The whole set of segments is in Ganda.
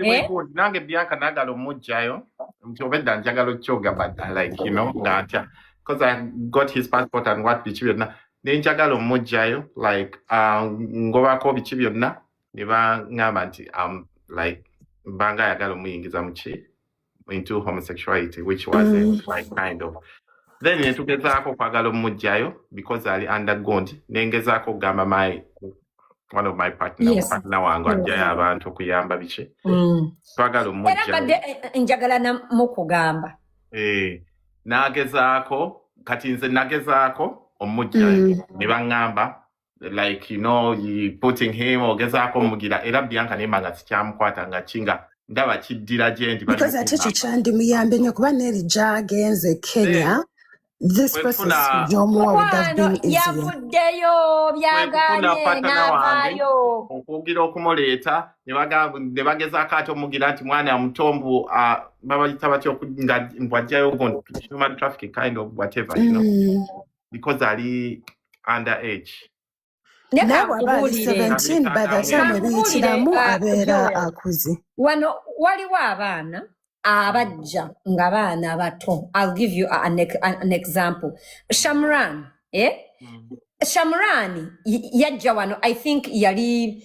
Eh? nange bianca nagala omujjayo nti obedda njagala okyoga but like you know nga ntya because i got his passport and what biki byonna ne njagala omujjayo like uh, ngobako biki byonna ne baŋŋamba nti um, like mbanga ayagala omuyingiza muki into homosexuality which was mm. like kind of then netugezaako okwagala omumugjayo because ali undergond nengezaako okugamba my one of my partner yes. partner wange mm. ajjayo abantu okuyamba biki mm. twagala omumugjayombadde eh, eh, njagala namukugamba eh, nagezaako kati nze nagezaako omumugjayo mm. ne baŋŋamba like you know you putting him ogezaako omugira era bianca nemba nga sikyamukwata nga kinga ndaba kiddira gyendi because ate ekyo kyandimuyambye nyo kuba neri gyagenze kenya this person gyomuwa would have been easier yavuddeyo byaganye n'avaayo okugira okumuleeta ne bagamba- ne bagezaako ate omugira nti mwana muto mbu ah, babayita batya oku- nga mbu ajjayo guno human trafficking kind of whatever you know Mm. because ali under age naye leka bw'aba ali nkubuulire Nabireka 17 by the time akamwebera kankubuulire ebiyitiramu uh, abeera joel akuze wano waliwo abaana abajja nga baana bato i'll give you an, ex- an example shamran eh? shamran y- yajja wano i think yali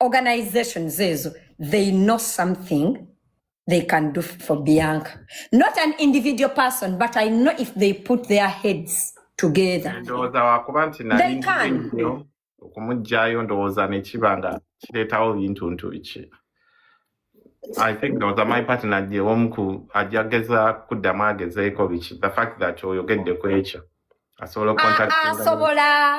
organizations ezo they know something they can do for bianca not an individual person but i know if they put their heads together ndowooza wakuba nti nali nyo okumugyayo ndowooza nekiba nga kireetawo bintuntu biki i think ndowooza my partner gye omu ku ajja geza kuddamu agezeeko biki the fact that oyogedde ku ekyo asobola ah, ah, asobola